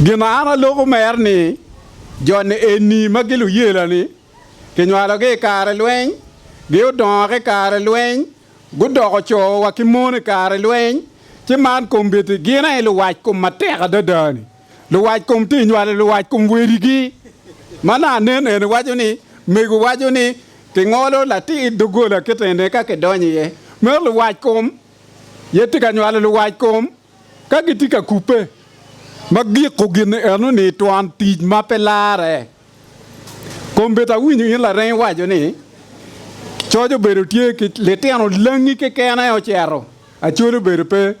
Gin ma an aloko mer ni jo-ni eni ma giluyela-ni kinywalogi i kare lweny, giodongo ki i kare lweny, gudoko co wa ki mon i kare lweny, ci man kombeddi gin aye luwac kom matek adada-ni, luwac kom tye nywalo luwac kom wedigi. Ma nongo anen eni waco ni, mego waco ni kingolo latir doggola kite-ni ka kidonyo iye, meno luwac kom aye tye ka nywalo luwac kom. Ka gitye ka kubbe, ma giko gin enoni i twon tic ma pe larre, kombeddi awinyo in lareng iwaco ni, Coc obedo tye ki litino langi keken aye ocito, acwali obedo pe.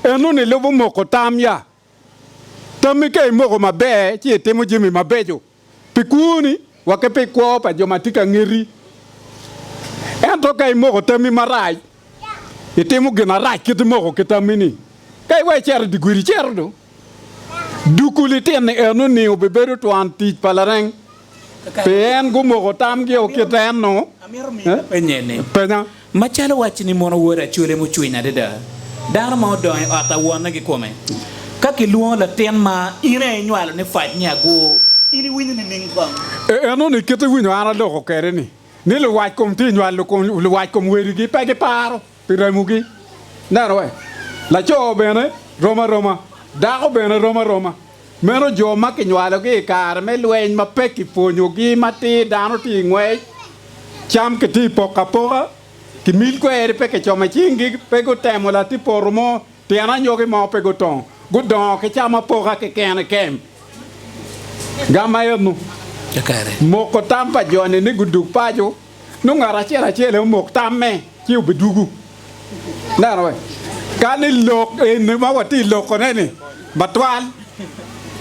Enoni lubo moko tam ya? Tammi ka imoko maber ci itimo jami mabeco. pi kwoni wa ki pi kwo pa jo ma tye ka ngeti. Ento ka imoko tammi marac, itimo gin arac kit imoko ki tammi-ni. Ka iweko icito i dye gudi icito do, duku litini eno ni obibedo twan tic pa lareng, pien gumoko tamgio kit eno. Penya. Macalo wacci ni mono wod acwele mucwiny adada, dano ma odongo i ot a wonne ki kome. Ka kilwongo latin ma in aye inywalo ni fac ni agwo, in iwinyo nining kong? E enoni kit iwinyo an aloko kede ni, ni luwac kom tye inywal luwac kom wedigi pe giparo pi remogi. Neno we, laco bene rom aroma, dako bene rom aroma. Meno jo ma kinywalogi i kare me lweny ma pe kipwonyogi matir, dano tye i ngwec, cam kitye i poko apoka, kimil kweri pe kicomo i cinggi, pe gutemo latir poto mo, tyen anyogi mo pe gutongo, gudongo ki cam apoka keken i kem. Gam ma ennu moko tam pa joni ni gudug paco. nongo ngat acel acel aye omok tamme ci obidugu. Ineno wee? Kani lok eni ma watye lokone-ni matwal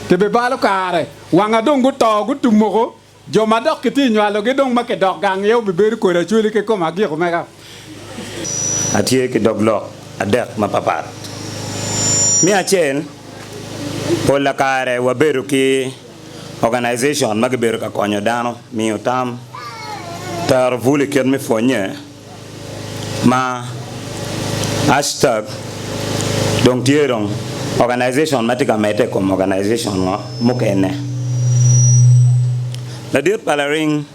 kibibalo kare, wanga dong guto, gutumoko, jo ma dok kitye nywalogi dong ma kidok gang aye obibedo kodi acwali ki kom agik omega. Atye ki dog lok adek mapapat. Me acel, polla kare wabedo ki. Organization ma gibedo ka konyo dano miyo tam, tero bul i kit me pwonnye ma Hashtag dong tye dong organization ma tye ka medde i kom organization mukene. Ladit pa laring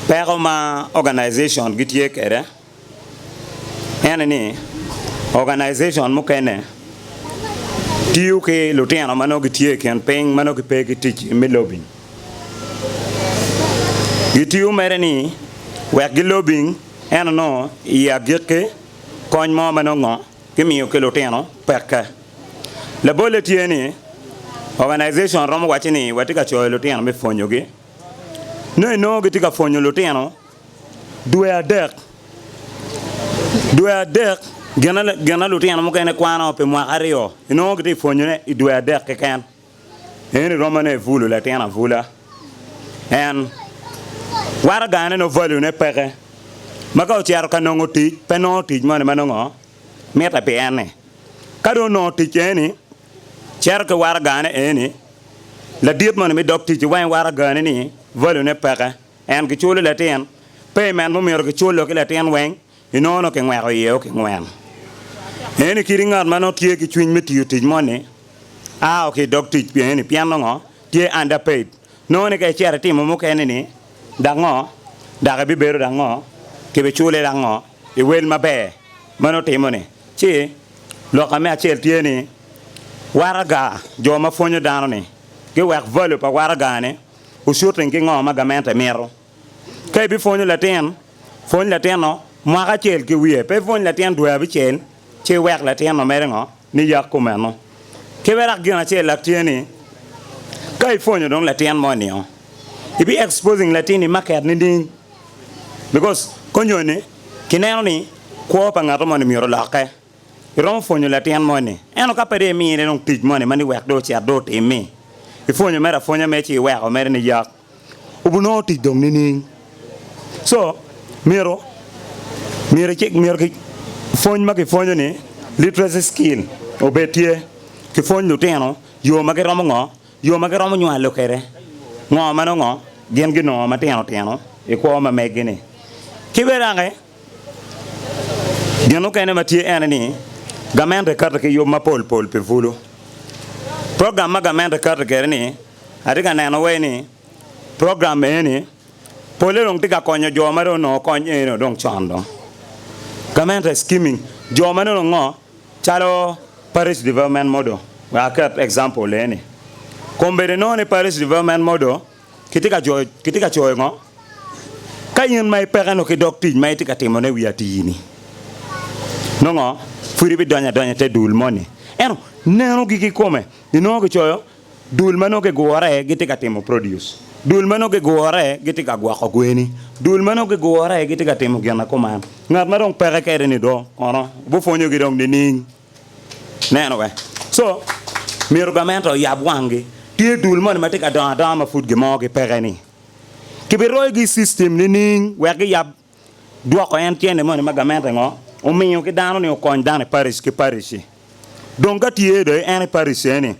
peko ma organization gitye kwede. en ni organization mukene tiyo ki lutino ma nongo gitye i kin piny ma nongo gipe ki tic me lobing. Gitiyo mere ni wek gilobing ento nongo i agikki kony mo ma nongo gimiyo ki lutino peke. Labolle tye ni organization romo wacci ni watye ka coyo lutino me pwonyogi. Nongo inongo gitye ka pwonyo lutino Dwe adek, Dwe adek gin ma lutino mukene kwano pi mwaka aryo inongo gitye ka pwonyone i dwe adek keken. Eni romo ne Evulu latin abula. En waraga ne nongo value ne peke ma ka ocito ka nongo tic pe nongo tic moni ma nongo mitte pi en ni. Ka dong onongo tic eni cito ki waragane eni ladit moni me dog ticci wa i waragane ni value ne peke. En kiculo latin payment mo myero kiculo ki latin weng inongo nongo kingweko iye o kingwen. Eni kit ngat ma nongo tye ki cwiny me tiyo tic mo ni a o ki idog tic pien ni pien nongo tye under paid. Nongo ni ka icito itimo mukene ni dak ngo dak ibibedo dak ngo kibi cule dak ngo iwel maber ma nongo timo ni ci loka me acel tye ni waraga jo ma pwonyo dano ni giwek value pa waraga ne Wucuting ki ngo ma gamente mito. Ka ibipwonyo latin, pwony latinno mwaka acel ki wiye, pe ipwony latin dwe abicel ci iwek latinno mere ngo, ni yak kumeno. Ki bene dok gin acellak tye ni, ka ipwonyo dong latin mo ni-o, ibi exposing latinni market nining? Because konyoni kineno ni kwo pa ngato moni myero olokke. Iromo pwonyo latin moni, ento ka pe dong imine dong tic moni ma ni wek dong ocit dong otimmi, ipwonyo mere apwonya mere ci iweko mere niyak, wubinongo tic dong nining? Co, myero, myero ki, myero ki, pwony ma kipwonyo-ni, literacy skill, obed tye. Kipwony lutino yo ma giromo ngo, yo ma giromo nywalo kwede ngo ma nongo gin ginongo matino tino i kwo ma megi-ni. Ki bene dok-ki. Gin mukene ma tye ene ni, gamente kato ki yub mapol pol pi bulu. Program ma gamente kato kwede ni, atye ka neno wai ni program eni pole dong tye ka konyo jo ma dong onongo kony eni dong con dong. Gamente skimming jo ma nongo ngo calo parish development model, wek aket example eni. Kombeddi nongo ni parish development model. Kitye ka coyo ngo ka in ma ipeke nongo ki dog tic ma itye ka timo ne wi atii ni? Nongo pud ibi donyo adonya ite dul moni ento neno gi kikome inongo kicoyo dul ma nongo gigure gitye ka timo produce, dul ma nongo gigure gitye ka gwoko gweni, dul ma nongo gigure gitye ka timo gin na kuman. Ngat ma dong peke kede ni dong kono obipwonyogi dong nining? Neno bene. Co myero gamente oyab wanggi. Tye dul moni ma tye ka dongo adonga ma pud gimogi peke-ni? Kibiroyogi i system nining wek giyab dwoko en cente moni ma gamente ngo omiyo ki dano ni okony dano i parish ki parish-shi? Dong ka tye dong en i parish eni,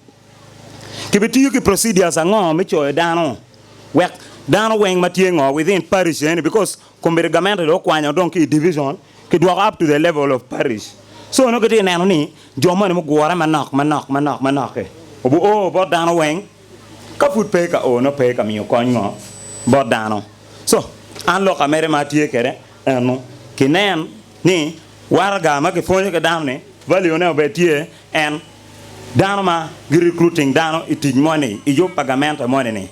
kibitiyo ki procedures ango me coyo dano wek dano weng ma tye ngo within parish eni because Kombeddi gamente dong okwanyo dong ki i division ki dwoko up to the level of parish so nongo kitye neno ni jo moni mugure manok manok manok manok-ki obi o bot dano weng ka pud pe ka o nongo pe ka miyo kony ngo bot dano so an lok amede ma atye kede enu kinen ni waraga ma ki pwonyo ki dano ni value ne obed tye en Dano ma gi recruiting dano i tic moni i yub pa gamente moni ni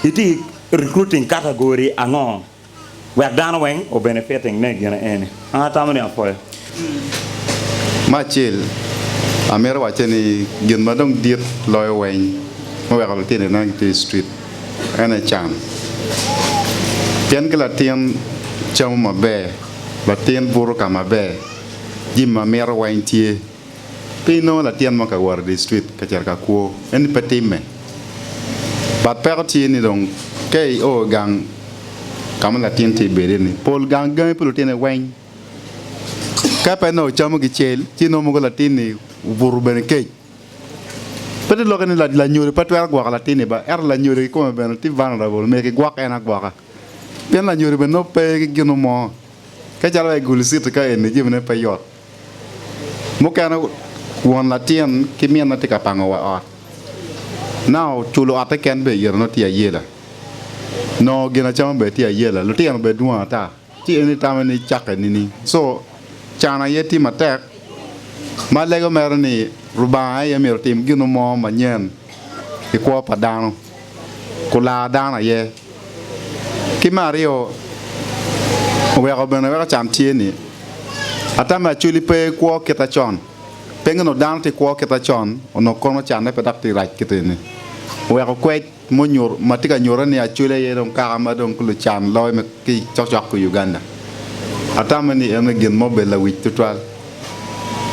itye recruiting category ango wek dano weng o benefiting ne gine eni? An atamo ni apoyo. Me acel, amito wacce ni gin ma dong dit loyo weny me weko litino ineno gi tye i street en aye can. Pien ki latin camo maber, latin buto ka maber, jimi ma mito weny tye. Pe inongo latin mo ka wot i dictrik ka cito ka kwo. Eni pe timme. But peko tye ni dong ka i o i gang ka ma latin tye bedi ni, pol gang gangi pi lutine weng. Ka pe nongo ocamo gicel ci inongo mogo latin ni obuto bene kec. Pe to lokke ni lanyodo pe twero gwoko latin ni ba, ento lanyodo ki kome bene tye vulnerable myero ki gwok en agwoka. Pien lanyodo bene nongo pe ki gino mo. Ka calo wa i Gulu City ka eni jami ne pe yot. Mukene won latin ki minne tye ka pango wa ot. Nao culo otte ken bene ite nongo tye ayela. Nongo gin acama bene tye ayela. Lutino bene dwong ata ci en itame ni cakke nining? Co can aye tye matek ma lego mere ni Lubanga aye myero otim gino mo manyen i kwo pa dano. olar dano aye. Ki me aryo, oweko bene weko can tye ni ata me Acholi pe kwo kite con. Pe nongo dano tye kwo kite con onongo kono canne pe dok tye rac kite ni. Oweko kwec ma tye ka nyutte ni Acholi aye dong kaka ma dong ki lucan loyo ki cokcok ki Uganda. Ata me ni eno gin ma obedo lawic tutwal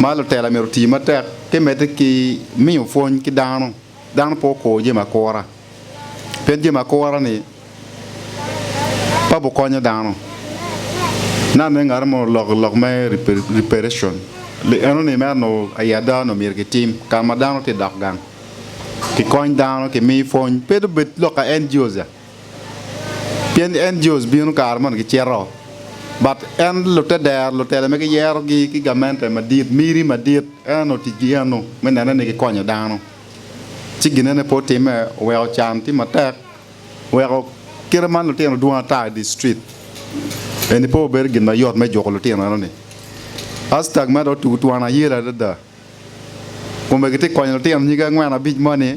ma lutela myero oti matek ki medde ki miyo pwony ki dano. dano pe okur jami akura, pien jami akura-ni pe obikonyo dano. Nano ni ngat mo oloko lok me reparation, enoni mere onongo aye ada onongo myero kitim ka ma dano tye ka dok gang, kikony dano, kimi pwony, pe dong bed lok ka NGOs ya. Pien NGOs bino kare mono gicito, but en lute dero lutele ma giyero gi ki gamente madit miri madit en onongo tic gi eno me nene ni gikonyo dano. Ci ginene pe otime oweko can tye matek weko kite man lutino dwong ata idi street eni pe obedo gin mayot me juko lutino eno ni. Hashtag me do otugo twon ayel adada kome gitye konyo lutino nyige angwen abic moni.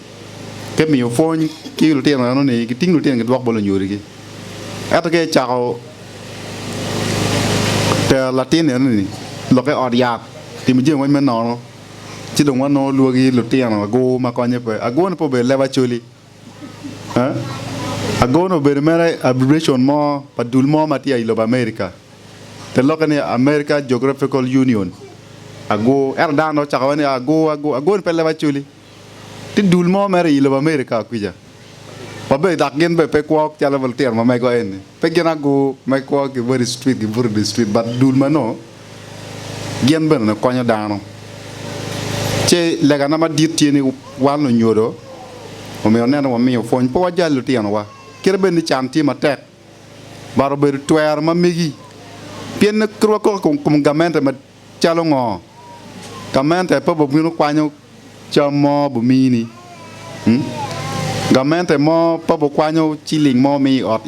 Te miyo pwony ki lutino eno ni giting lutino gidwok bot lunyodogi. Ento ka icako tero latin eno ni lokke i ot yat timo jami moc me nono, ci dong wanongo lwagi lutino agur ma konye pe. Agurne pe obedo leb acoli. Agurne obedo mere abbreviation mo pa dul mo ma tye i lobo America. Te lokke ni America Geographical Union. Agur. Ento dano dong ocako waci ni agur agur. Agurne pe leb acoli. Tye dul mo mere iyi lobo America kwica ma be dok gin be pe kwo calo litino ma mego eni. Pe gin agu me kwo ki weri street ki buto di street but dul ma nongo gin bene nongo konyo dano. Ci lega na madit tye ni wan lunyodo omyero nen ni wamiyo pwony pe wajal litino wa. Kite bed ni can tye matek but obedo twero ma megi pien kit wa koko i kom gamente Calo ngo? Gamente pe bubino kwanyo cam mo bumini? Gamente mo pe bukwanyo ciling mo mi ot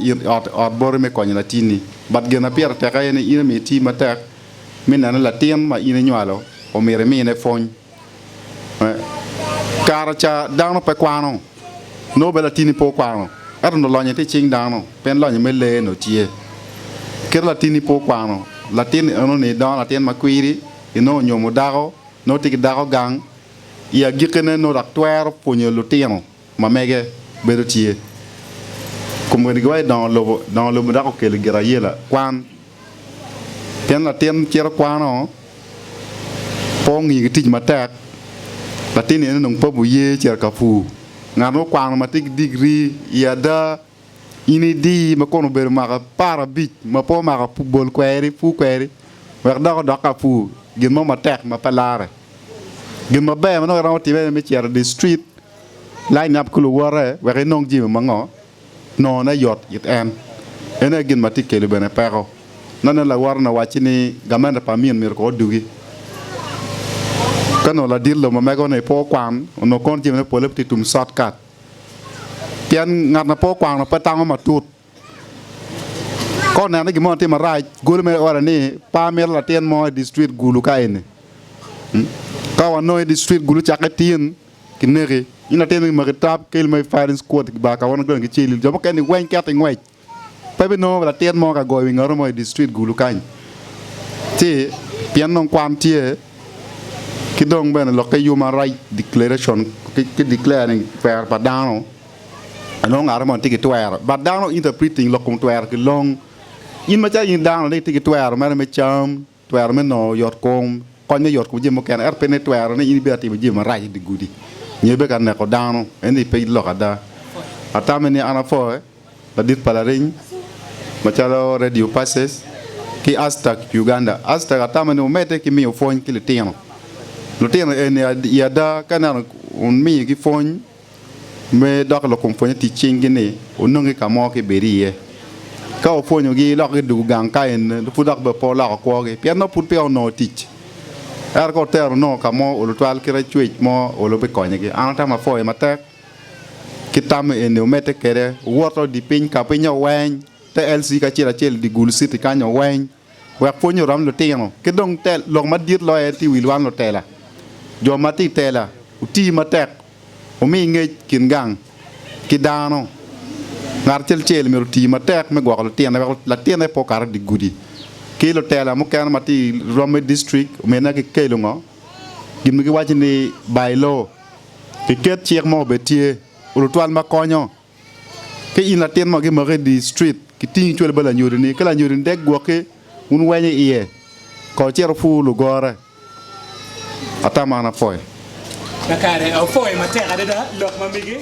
boti me konyo latinni? But gin ma pire tek aye ni in myero iti matek me neno ni latin ma in inywalo omyero imine pwony. Kara ca dano pe kwano, nongo bene latini pe okwano, ento nongo lonye tye i cing dano, pien lonye me lee nongo tye. Kit ma latini pe okwano, latin enoni dongo latin ma kwiri, inongo onyomo dako, nongo tye ki dako gang, i agikkine nongo dok twero pwonyo lutino. ma mege bedo tye. Kom wenigiwa i dongo lobo, dongo lobo dok okelo i Girayela kwan. Pien latin cito kwano, pe ongiyo ki tic matek, latin-ni en onongo pe oye cito ka pur. Ngat ma okwano ma tye ki digri i ada In idi ma kun obedo mwaka aparabic ma pe omako pur, bol kweri, pur kweri, wek dok odok ka pur gin mo matek ma pe larre. Gin maber ma nongo iromo timme aye me cito idi street lineup ki luwote wek inong jami ma ngo nongo ne yot it en. En aye gin ma tye ka kelo bene peko. Nongo ineno lawote ni owacci ni gamente pa amin myero kono odugi. Ka nongo ladit lobo ma mego ni pe okwan, onongo kono jamine pole pe tye tum short cut. Pien ngat ma pe okwano pe tango matut. Ka oneno ni gin mo tye marac, golo mere iore ni, 'Pe amito latin mo i district Gulu ka eni. Ka wanongo i district Gulu cakke tin, kineki. In latin-ni kimaki i trap, keli ma i firing squad, kibar kawononi dong kiceli. Jo mukene-ni weng kito i ngwec. Pe binongo latin mo ka goyo wi ngatu mo i dictrit Gulu kany ci pien dong kwan tye ki dong bene lokke yub marac declaration ki declare ni twero pa dano anongo ngatu moni tye ki twero but dano interpreting lok kom twero ki long in macalo in dano ni itye ki twero mere me cam Twero me nongo yotkom konyo yotkom jami mukene, ento pe ni twero ni in ibino atimo jami marac i dye gudi nyo ibino ka neko dano. Eni pe lok ada. Atame ni an apwoye ladit pa lariny macalo Radio Pulses ki Aztak Uganda. Aztak atame ni omedde ki miyo pwony ki litino. Lutino eni i ada ka ineno omigi pwony. Me dok lukumpwonye tic cinggi ni onongi ka mo ki bed iye. Ka opwonyogi lok gi dug gang ka en pud dok bene pe oloko kwogi pien nongo pud peya onongo tic. Ero ka otero onongo ka mo olo twal kit acwec mo olo bikonyegi. An atamo apwoye matek ki tam eni omedde kwede owoto di piny ka pinye oweny te LC ki acel acel di gulu city kany oweny. wek pwony orom lutino ki dong tel lok madit loyo aye tye i wi lwan lutela. Jo ma tye i tela oti matek wumi ngec kin gang ki dano. Ngat acel acel myero oti matek me gwoko lutine wek latine pe okat i dye gudi. Ki lutela mukene ma tye i romi district omedine ki kelo ngo? gin ma giwaco ni by law. Kiket cik mo obed tye, olutwal ma konyo. Ka in latin ma gimako i dye cit, gitingi icwalo bot lanyodini. Ka lanyodini dek gwoki, wun wenyo iye, ka ocito wupur lugore. Atamana pwoyo. Kakare, awopoyo matek adada lok ma mege.